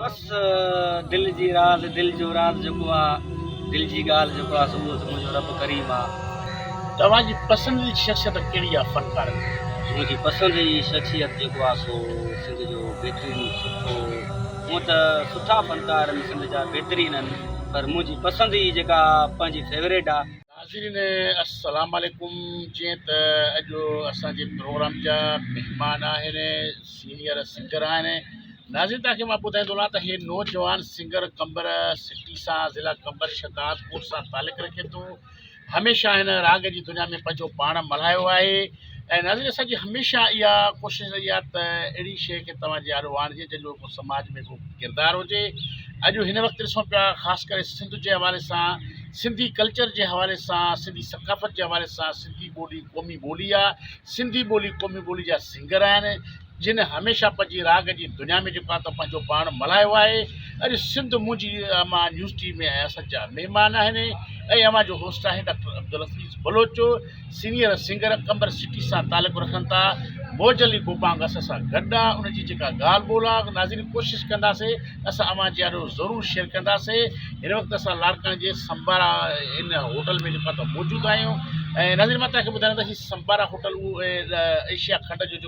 بس دل جي راز دل جو راز جيڪو آ دل جي ڳالهه جيڪو آ سو اهو منهنجو رب ڪريم آ. توهان جي پسند جي شخصيت ڪهڙي آ فنڪارن ۾؟ منهنجي پسند جي شخصيت جيڪو آ سو سنڌ جو بهترين سٺو هونئن ته سٺا فنڪار سنڌ جا بهترين آهن پر منهنجي پسند جي جيڪا پنهنجي فيوريٽ آ. ناظرين السلام عليڪم جيئن ته اڄ اسان جي پروگرام جا مهمان آهن سينيئر سنگر آهن ناظرين توهان کي مان ٻڌائيندو هلان ته هي نوجوان سنگر قمبر سٽي سان ضلع قمبر شهدادپور سان تعلق رکي ٿو هميشه هن راڳ جي دنيا ۾ پنهنجو پاڻ ملهايو آهي ۽ ناظرين اسان جي هميشه اها ڪوشش رهي آهي ته اهڙي شيء کي توهان جي آڏو آڻجي جنهن جو ڪو سماج ۾ ڪو ڪردار هجي اڄ هن وقت ڏسون پيا خاص ڪري سنڌ جي حوالي سان سنڌي ڪلچر جي حوالي سان سنڌي ثقافت جي حوالي سان سنڌي ٻولي قومي ٻولي آهي سنڌي ٻولي قومي ٻولي جا سنگر آهن جنھن ھميشه پنھنجي راڳ جي دنيا ۾ جيڪو آھي تو پنھنجو پاڻ ملھايو آھي اڄ سنڌ منھنجي امان نيوز ٽيم ۾ ۽ اسد جا مھمان آھن ۽ اوھان جو ھوسٽ آھي doctor Abdulhafeez Baloch senior singer Qambar city سان تعلق رکن ٿا موج علي گوپانگ اسان سان گڏ آ ان جي جيڪا ڳالھ ٻولھ آ ناظرين ڪوشش ڪنداسي اسان اوھان جي آڏو ضرور شيئر ڪنداسي ھن وقت اسان لاڙڪاڻي جي سمبارا ان ھوٽل ۾ جيڪو آھي تو موجود آھيون ۽ ناظرين مان تھان کي ٻڌايان ته ھي سمبارا ھوٽل اھو ايشيا کنڊ جو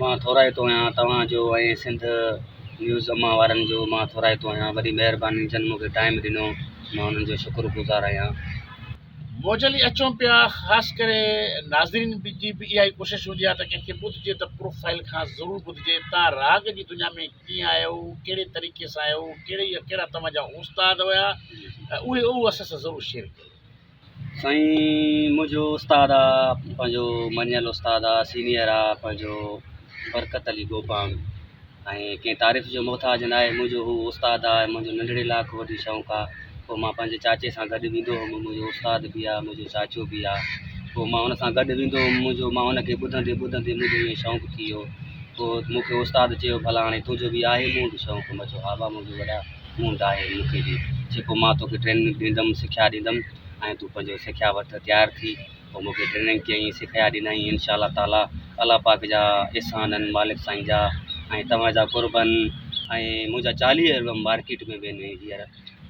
مان ٿورائتو آهيان توهان جو ۽ سنڌ نيوز امان وارن جو مان ٿورائتو آهيان وڏي مهرباني جن مونکي ٽائيم ڏنو مان انهن جو شڪر گذار آهيان. موجل ئي اچون پيا خاص ڪري ناظرين جي به اها ئي ڪوشش هوندي آهي ته ڪنهن کي ٻڌجي ته پروفائيل کان ضرور ٻڌجي تان راڳ جي دنيا ۾ ڪيئن آيا هئو ڪهڙي طريقي سان آيا هئو ڪهڙي يا ڪهڙا توهان جا استاد هيا اهي اهو اسان سان ضرور شيئر ڪيو. سائين منهنجو استاد آ پنهنجو مڃيل استاد آ سينيئر آ پنهنجو برڪت علي گوپاڻ ۽ ڪنهن تعريف جو محتاج ناهي منهنجو هو استاد آ منهنجو ننڍڙي لاکو وٽ شوق آ پوء مان پنهنجي چاچي سان گڏ ويندو هوم منهنجو استاد به آ منهنجو چاچو به آ پوء مان هن سان گڏ ويندو هوم منهنجو مان هن کي ٻڌندي ٻڌندي منهنجو ائين شوق ٿي ويو پوء مون کي استاد چيو ڀلا هاڻي تنهنجو به آهي مون وٽ شوق مان چيو ها ڀا منهنجو وڏا مون ڊاهي مون کي ڏي جيڪو مان توکي ٽريننگ ڏيندم سکيا ڏيندم ۽ تون پنهنجو سکيا وٺ تيار ٿي پوء مون کي ٽريننگ ڪيائين سکيا ڏنائين انشاء الله تعالٰي الله پاڪ جا احسان آهن مالڪ سائين جا ۽ توهان جا قربن ۽ منهنجا چاليهه البم مارڪيٽ ۾ به آهن هينئر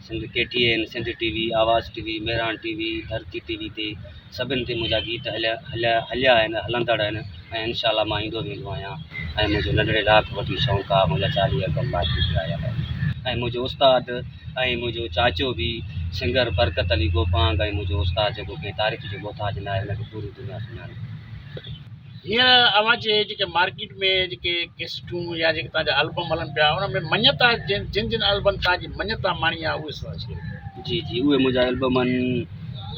Sindh K T N Sindh T V Awaz T V Mehran T V Dharti T V تي سڀن تي منهنجا گيت هليا آهن ۽ هلندڙ آهن ۽ انشاء الله مان ايندو ويندو آهيان ۽ منهنجو ننڍڙي لاء کان وٺي شونق آهي منهنجا چاليهه البم باقي پيا آهيا آهن ۽ منهنجو استاد ۽ منهنجو چاچو به سنگر برڪت علي گوپانگ ۽ منهنجو استاد جيڪو ڪنهن تاريخ جو محتاج ناهي ان کي پوري دنيا سڃاڻي هينئر اوهان جي جيڪي مارڪيٽ ۾ جيڪي ڪيسٽون يا جيڪي توهان جا البم هلن پيا ان ۾ مڃتا جن جن جن البن توهان جي مڃتا ماڻي آهي اهي سدا شير جي جي اهي منهنجا البم آهن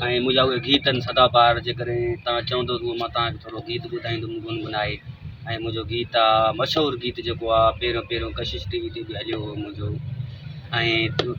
۽ منهنجا اهي گيت آهن سدا بهار جيڪڏهن توهان چوندو ته مان توهان کي ٿورو گيت ٻڌائيندم گنگنائي ۽ منهنجو گيت آهي مشهور گيت جيڪو آهي پيرو پيرو ڪشش ٽي وي تي به هليو هو منهنجو ۽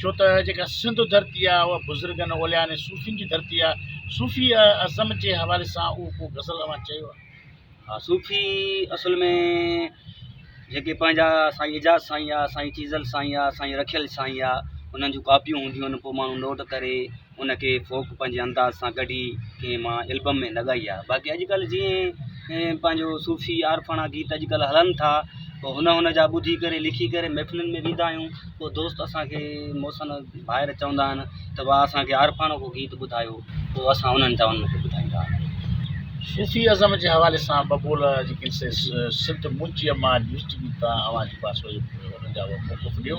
ڇو ته جيڪا سنڌ ڌرتي آهي اها بزرگن، اوليائن ۽ صوفين جي ڌرتي آهي. صوفي ازم جي حوالي سان اهو ڪو غزل اوهان چيو آهي؟ ها صوفي اصل ۾ جيڪي پنهنجا سائين اعجاز سائين يا سائين چيزل سائين يا سائين رکيل سائين يا انهن جون ڪاپيون هونديون آهن پوء ماڻهو نوٽ ڪري ان کي فوڪ پنهنجي انداز سان ڪڍي ڪنهن مان البم ۾ لڳائي آهي باقي اڄڪلهه جيئن پنهنجو صوفي عارفاڻا گيت اڄڪلهه هلن ٿا پوء هن هن جا ٻڌي ڪري لکي ڪري محفلن ۾ ويندا آهيون پوء دوست اسانکي موسن ڀائر چوندا آهن ته وا اسانکي عارفاڻو ڪو گيت ٻڌايو پوء اسان انهن جا انهن کي ٻڌائيندا آهيون صوفي ازم جي حوالي سان ٻه ٻول جيڪي سي سنڌ منهنجيء مان ڊسٽريبيوٽ تان اوهان جي پاسو جي انهن جا موقف ڏيو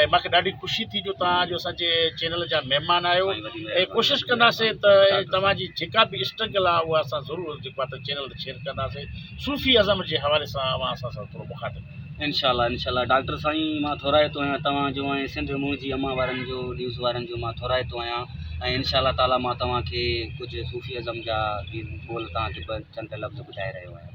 ۽ مونکي ڏاڍي خوشي ٿي جو توهان اڄ اسانجي چينل جا مهمان آهيو ۽ ڪوشش ڪنداسين ته توهان جي جيڪا به اسٽرگل آهي اها اسان ضرور جيڪو آهي چينل تي شيئر ڪنداسين صوفي ازم جي حوالي سان اوهان اسان سان ٿورو مخاطب انشاء الله انشاء الله ڊاڪٽر سائين مان ٿورائتو آهيان توهان جو ۽ سنڌ مون جي امان وارن جو نيوز وارن جو مان ٿورائتو آهيان ۽ انشاء الله تعاليٰ مان توهان کي ڪجهه صوفي ازم جا ٻول توهان کي چند لفظ ٻڌائي رهيو آهيان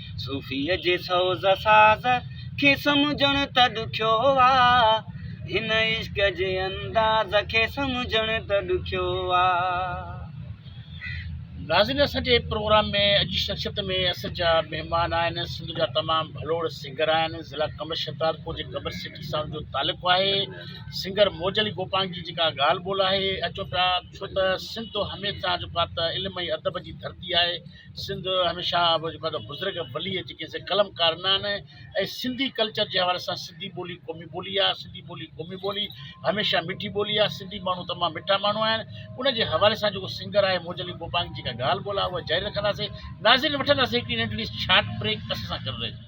صوفيء جي سوز ساز کي سمجهڻ ته ڏکيو آ، هن عشق جي انداز کي سمجهڻ ته ڏکيو آ. ناظرين اسان جي پروگرام ۾ اڄ جي شخصيت ۾ اسان جا مهمان آهن سنڌ جا تمام ڀلوڙ سنگر آهن ضلع قمر شهدادپور جي قمر سٽي سان ان جو تعلق آهي سنگر موج علي گوپانگ جي جيڪا ڳالهه ٻولهه آهي اچو پيا ڇو ته سنڌ هميشه جيڪو آهي ته علم ۽ ادب جي ڌرتي آهي سنڌ هميشه وڏو بزرگ ولي جيڪي سي قلم ڪار نه آهن ۽ سنڌي ڪلچر جي حوالي سان سنڌي ٻولي قومي ٻولي آهي سنڌي ٻولي قومي ٻولي هميشه مٺي ٻولي آهي سنڌي ماڻهو تمام مٺا ماڻهو آهن ان جي حوالي سان جيڪو سنگر آهي موج علي گوپانگ جيڪا ڳالهه ٻولهه آهي اها جاري رکنداسي ناظرين وٺنداسي هڪڙي ننڍڙي شارٽ بريڪ اسان سان گڏ رهجو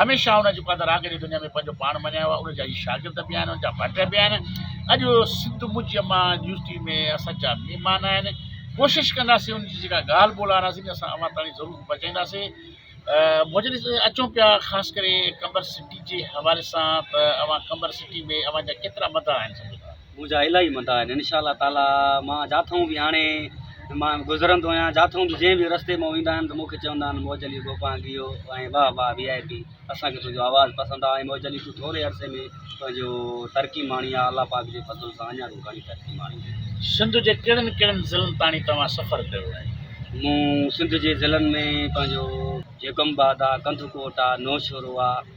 هميشه ان جي قدر آگري دنيا ۾ پنهنجو پاڻ مڃايو آهي ان جا هي شاگرد به آهن ان جا ڀٽ به آهن اڄ سنڌ منهنجي امان يونيورسٽي ۾ اسان جا مهمان آهن ڪوشش ڪنداسين ان جي جيڪا ڳالهه ٻولهه آڻاسين اسان اوهان تائين ضرور پهچائينداسين مجلس اچون پيا خاص ڪري قمبر سٽي جي حوالي سان ته اوهان قمبر سٽي ۾ اوهان جا ڪيترا مداح آهن سمجهندا منهنجا الاهي مندا آهن ان شاء الله تعاليٰ مان جاٿئون به هاڻي مان گذرندو آهيان جاٿئون به جنهن به رستي مان ويندا آهن ته مونکي چوندا آهن موج علي گوپانگ اهو ۽ واهه واهه وي آء پي اسان کي تنهنجو آواز پسند آهي ۽ موج علي تون ٿوري عرصي ۾ پنهنجو ترقي ماڻي آهي الله پاڪ جي فضل سان اڃا تون گهڻي ترقي ماڻي. سنڌ جي ڪهڙن ڪهڙن ضلعن تاڻي توهان سفر ڪيو آهي؟ مون سنڌ جي ضلعن ۾ پنهنجو جيڪب آباد آهي ڪنڌڪوٽ آهي نوشهرو آهي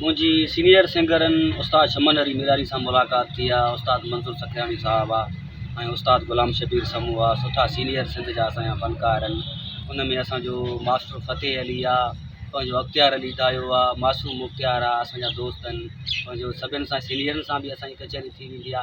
منهنجي سينيئر سنگرن استاد شمن علي ميراري سان ملاقات ٿي آ استاد منظور سکياڻي صاحب آ ۽ استاد غلام شبير سمون آ سٺا سينيئر سنڌ جا اسان جا فنڪار ان ان ۾ اسان جو ماستر فتح علي آ پنهنجو اختيار علي دايو آ معصوم مختيار آ اسان جا دوست ان پنهنجو سڀن سان سينيئرن سان به اسان جي ڪچهري ٿي ويندي آ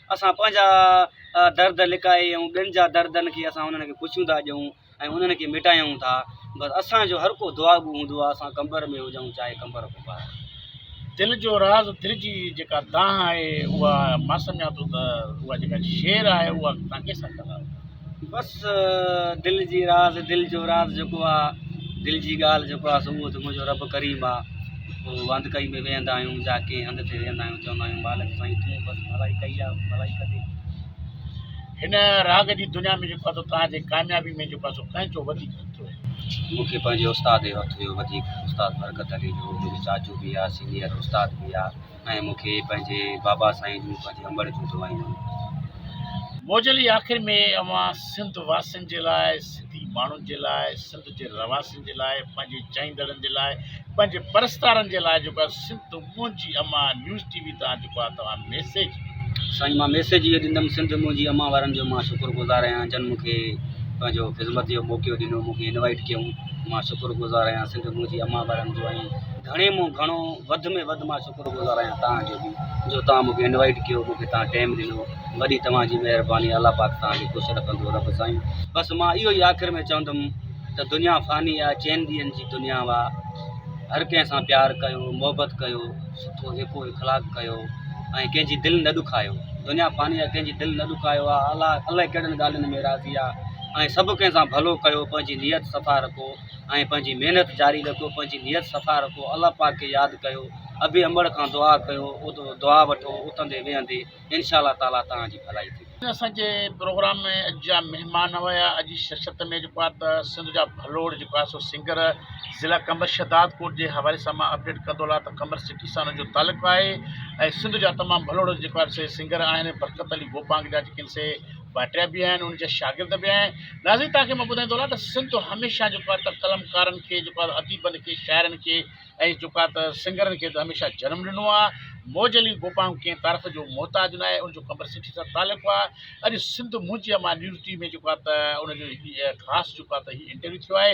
اسان پنهنجا درد لڪائي ۽ ٻين جا دردن کي اسان انهن کي پڇيون ٿا ڏيون ۽ انهن کي مٽايون ٿا بس اسان جو هر ڪو دعا گو هوندو آهي اسان قمبر ۾ هجون چاهي قمبر کان ٻاهر دل جو راز دل جي جيڪا دانهن آهي اها مان سمجهان ٿو ته اها جيڪا شعر آهي اها تان ڪيسان ڪنداو بس دل جي راز دل جو راز جيڪو آ دل جي ڳالهه جيڪو آ سو اهو ته منهنجو رب ڪريم آ پوء واند ڪئي ۾ ويهندا آهيون جا ڪنهن هنڌ تي ويهندا آهيون چوندا آهيون مالڪ سائين تون بس ڀلائي ڪئي آ ڀلائي ڪندي هن راڳ جي دنيا ۾ جيڪو آ سو توهان جي ڪاميابي ۾ جيڪو آ سو ڪنهن جو وڌيڪ هٿ هيو مون کي پنهنجي استاد جو هٿ هيو وڌيڪ استاد برڪت علي جو منهنجو چاچو به آ سينيئر استاد به آ ۽ مون کي پنهنجي بابا سائين جون پنهنجي امڙ جون دعائون ڏنيون. موجل جي آخر ۾ اوهان سنڌ واسين جي لاء، سنڌي ماڻهن جي لاء، سنڌ جي رهواسين جي لاء، پنهنجي چاهيندڙن جي لاء، پنهنجي پرستارن جي لاء جيڪو آهي سنڌ منهنجي امان نيوز ٽي وي تان جيڪو آهي توهان ميسيج سائين مان ميسيج اهو ڏيندم سنڌ منهنجي امان وارن جو مان شڪر گذار آهيان جن مون کي پنهنجو خذمت جو موقعو ڏنو مون کي انوائيٽ ڪيون مان شڪر گذار آهيان سنڌ منهنجي امان وارن جو ۽ گهڻي مون گهڻو وڌ ۾ وڌ مان شڪر گذار آهيان توهان جو به جو توهان مونکي انوائيٽ ڪيو مونکي توهان ٽيم ڏنو وڏي توهان جي مهرباني الله پاڪ توهان کي خوش رکندو رب سائين بس مان اهو ئي آخر ۾ چوندم ته دنيا فاني آهي چئن ڏينهن جي دنيا وا هر ڪنهن سان پيار ڪيو محبت ڪيو سٺو ايڪو اخلاق ڪيو ۽ ڪنهن جي دل نه ڏکايو دنيا فاني آهي ڪنهن جي دل نه ڏکايو آهي الله الله ڪهڙن ڳالهين ۾ راضي آهي ۽ سڀ ڪنهن سان ڀلو ڪيو پنهنجي نيت صفا رکو ۽ پنهنجي محنت جاري رکيو پنهنجي نيت صفا رکو الله پاڪ کي ياد ڪيو ابي امڙ کان دعا ڪيو دعا وٺو اٿندي ويهندي انشاء الله تعالي توهان جي ڀلائي ٿيندي. اسان جي پروگرام ۾ اڄ جا مهمان هيا اڄ جي شرشت ۾ جيڪو آهي ته سنڌ جا ڀلوڙ جيڪو آهي سو سنگر ضلع قمبر شهداد ڪوٽ جي حوالي سان مان اپڊيٽ ڪندو هلان ته قمبر سٽي سان ان جو تعلق آهي ۽ سنڌ جا تمام ڀلوڙ جيڪو آهن سي سنگر آهن برڪت علي گوپانگ جا جيڪي آهن سي ڀاٽيا به آهن انهن جا شاگرد به آهن ناظرين توهان کي مان ٻڌائين ٿو هلان ته سنڌ هميشه جيڪو آهي ته قلمڪارن کي جيڪو آهي اديبن کي شاعرن کي ۽ جيڪو آهي ته سنگرن کي ته هميشه جنم ڏنو آهي موج علي بوپانگ ڪنهن تعارف جو محتاج ناهي ان جو قمبر سٺي سان تعلق آهي اڄ سنڌ منهنجي امان نيوز ٽي وي ۾ جيڪو آهي ته ان جو خاص جيڪو آهي ته هي انٽرويو ٿيو آهي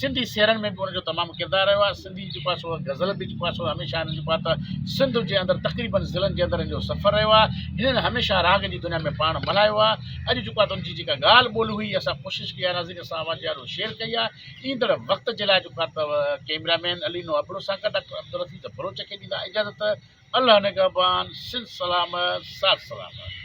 سنڌي سيرن ۾ به ان جو تمام ڪردار رهيو آهي سنڌي جيڪو آهي سو غزل به جيڪو آهي سو هميشه هنن جيڪو آهي ته سنڌ جي اندر تقريبن ضلعن جي اندر ان جو سفر رهيو آهي هنن هميشه راڳ جي دنيا ۾ پاڻ ملهايو آهي اڄ جيڪو آهي ته ان جي جيڪا ڳالهه ٻولهه هئي اسان ڪوشش ڪئي آهي ناظرين سان اوهان جي آڏو شيئر ڪئي آهي ايندڙ وقت جي لاء جيڪو آهي ته ڪيمرا مين علي نو ابڙو سان گڏ ڊاڪٽر عبدالحفيظ بلوچ کي ڏيندا اجازت الله نگهبان سنڌ سلامت ساٿ سلامت